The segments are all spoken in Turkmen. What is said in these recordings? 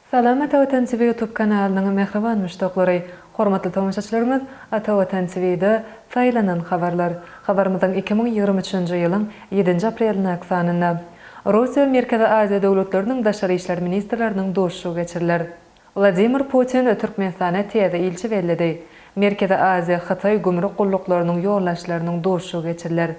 Salam Ata Watan TV ýutub kanalynyň mähriban müşdaklary! Hormatly tomaşaçylarymyz, Ata Watan TV-de Saýlanan habarlar. Habarymyzyň iki müň ýigrimi üçünji ýylyň ýedinji aprelindäki sanynda, Russiýa we Merkezi Aziýa döwletleriniň daşary işler ministrleriniň duşuşygy geçiriler. Wladimir Putin Türkmenistana täze ilçi belledi. Merkezi Aziýa, Hytaý gümrük gulluklarynyň ýolbaşçylarynyň duşuşygy geçiriler.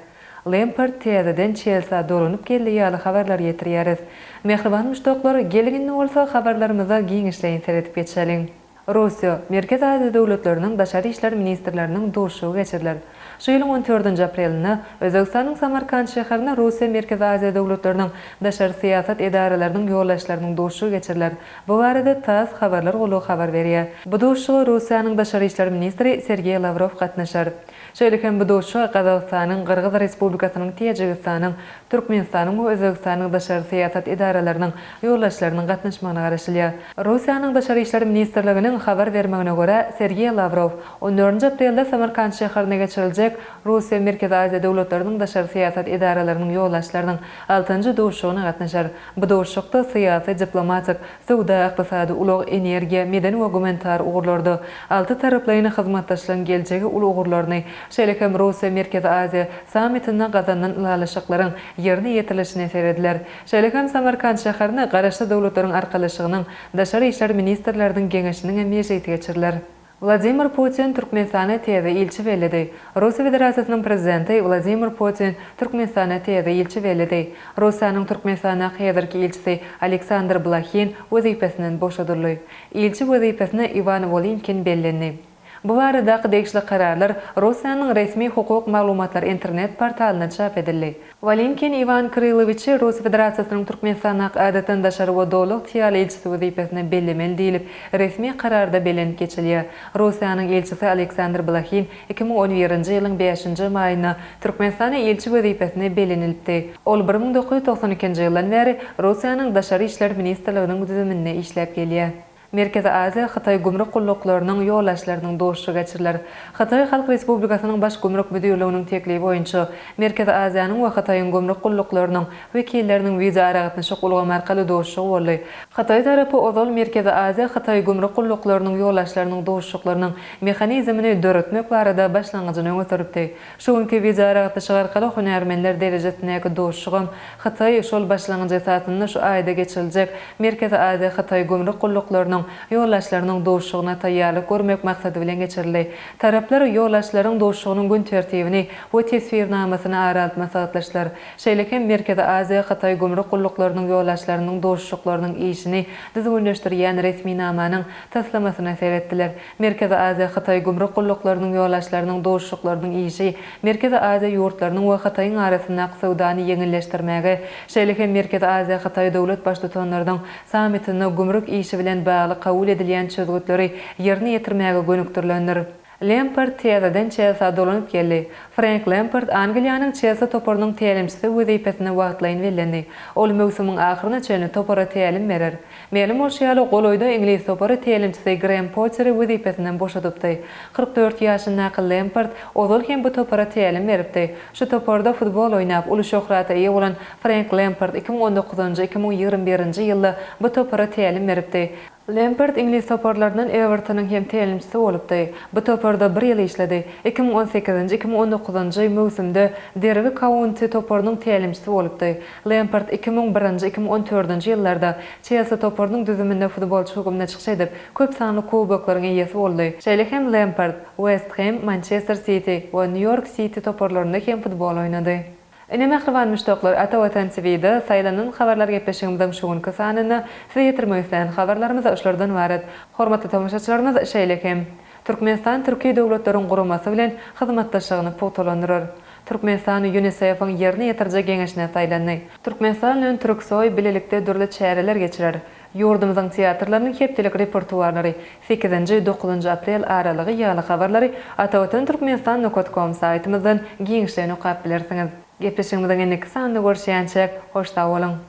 Lempart täzeden Çelsä dolanyp geldi ýaly habarlar ýetirýäris. Mähriban muşdaklar, geliň indi bolsa habarlarymyza giňişleýin seredip geçeliň. Russiýa, Merkezi Aziýa döwletleriniň daşary işler ministrleriniň duşuşygy geçiriler. Şu ýylyň on dördünji aprelinde Özbegistanyň Samarkant şäherinde Russiýa, Merkezi Aziýa döwletleriniň daşary syýasat edaralarynyň ýolbaşçylarynyň duşuşygy geçiriler. Bu barada tass habarlar gullugy habar berýär. Bu duşuşyga Russiýanyň daşary işler ministri Sergeý Lawrow gatnaşar. Şeýle hem bu duşuşyga Gazagystanyň, Gyrgyz Respublikasynyň, Täjigistanyň, Türkmenistanyň we Özbegistanyň daşary syýasat edaralarynyň ýolbaşçylarynyň gatnaşmagyna garaşylýar. Russiýanyň daşary işler ministrliginiň habar bermegine görä, Sergeý Lawrow on dördünji aprelde Samarkant şäherinde geçiriljek Russiýa-Merkezi Aziýa döwletleriniň daşary syýasat edaralarynyň ýolbaşçylarynyň altynjy duşuşygyna gatnaşar. Bu duşuşykda syýasy-diplomatik, söwda-ykdysady, ulag-energiýa, medeni we gumanitar ugurlarda altytaraplaýyn hyzmatdaşlygyň geljegi uly ugurlaryny, şeýle hem Russiýa-Merkezi Aziýa sammitinde gazanylan ylalaşyklaryň ýerine ýetirilişine serediler. Şeýle hem Samarkant şäherinde Garaşsyz Döwletleriň Arkalaşygynyň Daşary işler ministrleriniň geňeşiniň hem mejlisi geçiriler. Wladimir Putin Türkmenistana täze ilçi belledi. Russiýa Federasiýasynyň Prezidenti Wladimir Putin Türkmenistana täze ilçi belledi. Russiýanyň Türkmenistandaky häzirki ilçisi Aleksandr Blahin wezipesinden boşadyldy. Ilçi wezipesine Iwan Wolinkin bellendi. Bu baradaky degişli kararlar Russiýanyň resmi hukuk maglumatlar internet portalynda çap edildi. Walinkin Iwan Krylowiçi Russiýa Federasiýasynyň Türkmenistandaky Adatdan daşary we Doly ygtyýarly ilçisi wezipesine bellemeli diýlip, resmi kararda belent geçilýär. Russiýanyň ilçisi Aleksandr Blahin iki müň on birinji ýylyň bäşinji maýynda Türkmenistana ilçi wezipesine bellenilipdi. Ol bir müň dokuz ýüz togsan ikinji ýyldan bäri Russiýanyň Daşary işler ministrliginiň düzüminde işläp gelýär. Merkezi Aziýa, Hytaý gümrük gulluklarynyň ýolbaşçylarynyň duşuşygy geçiriler. Hytaý Halk Respublikasynyň Baş gümrük müdirliginiň teklibi boýunça, Merkezi Aziýanyň we Hytaýyň gümrük gulluklarynyň wekilleriniň wideoaragatnaşyk ulgamy arkaly duşuşygy boldy. Hytaý tarapy ozal Merkezi Aziýa, Hytaý gümrük gulluklarynyň ýolbaşçylarynyň duşuşyklarynyň mehanizmini döretmek barada başlangyjyny öňe sürüpdi. Şu günki wideoaragatnaşyk arkaly hünärmenler derejesindäki duşuşygam Hytaý şol başlangyjy esasynda şu aýda geçiriljek Merkezi Aziýa-Hytaý gümrük gulluklarynyň ýolbaşçylarynyň duşuşygyna taýýarlyk görmek maksady bilen geçirildi. Taraplar ýolbaşçylaryň duşuşygynyň gün tertibini we teswirnamasyny ara alyp maslahatlaşdylar. Şeýle hem Merkezi Aziýa-Hytaý gümrük gulluklarynyň ýolbaşçylarynyň duşuşyklarynyň işini düzgünleşdirýän resminamanyň taslamasyna seretdiler. Merkezi Aziýa Hytaý gümrük gulluklarynyň ýolbaşçylarynyň duşuşyklarynyň işi Merkezi Aziýa ýurtlarynyň we Hytaýyň arasyndaky söwdany ýeňilleşdirmäge, şeýle hem Merkezi Aziýa Hytaý döwlet baştutanlarynyň sammitinde gümrük işi bilen bagly kabul edilýän çözgütleri ýerine ýetirmäge gönükdirilendir. Lempard täzeden Çelsä dolanyp geldi. Frenk Lempard Angliýanyň Çelsi toparynyň tälimçisi wezipesine wagtlaýyn bellendi. Ol möwsümiň ahyryna çenli topara tälim berer. Mälim bolşy ýaly, golaýda iňlis topary tälimçisi Grem Potteri wezipesinden boşadypdy. Kyrk dört ýaşyndaky Lempard ozal hem bu topara tälim beripdi. Şu toparda futbol oýnap, uly şöhrata eýe bolan Frenk Lempard iki müň on dokuzynjy-iki müň ýigrimi birinji ýylda bu topara tälim beripdi. Lempard iňlis toparlaryndan Ewertonyň hem tälimçisi bolupdy. Bu toparda bir ýyl işledi. Iki müň on sekizinji-iki müň on dokuzynjy möwsümde Derbi Kaunti toparynyň tälimçisi bolupdy. Lempard iki müň birinji, iki müň on dördünji ýyllarda Çelsi toparynyň düzüminde futbolçy hökmünde çykyş edip, köp sanly kuboklaryň eýesi boldy. Şeýle hem Lempard West Hem, Mançester Siti we Nýu-Ýork Siti toparlarynda hem futbol oýnady. Ine mähriban muşdaklar Ata Watan TV'de saýlanan habarlar gepleşigimiziň şu günki sanynda size ýetirmek isleýän habarlarymyz şulardan ybarat. Hormatly tomaşaçylarymyz şeýle hem Türkmenistan Türki Döwletleriň Guramasy bilen hyzmatdaşlygyny pugtalandyrar. Türkmenistan UNICEF-iň Ýerine ýetiriji geňeşine saýlandy. Türkmenistan bilen Türksoý bilelikde dürli çäreler geçirer. Ýurdumyzyň teatrlarynyň hepdelik repertuarlary, sekizinji, dokuzynjy aprel aralygy ýaly habarlary Atavatan Türkmenistan Nokat Kom saýtymyzdan giňişleýin okap bilersiňiz. Gepleşigimiziň indiki sanynda görüşýänçäk, hoş sag boluň!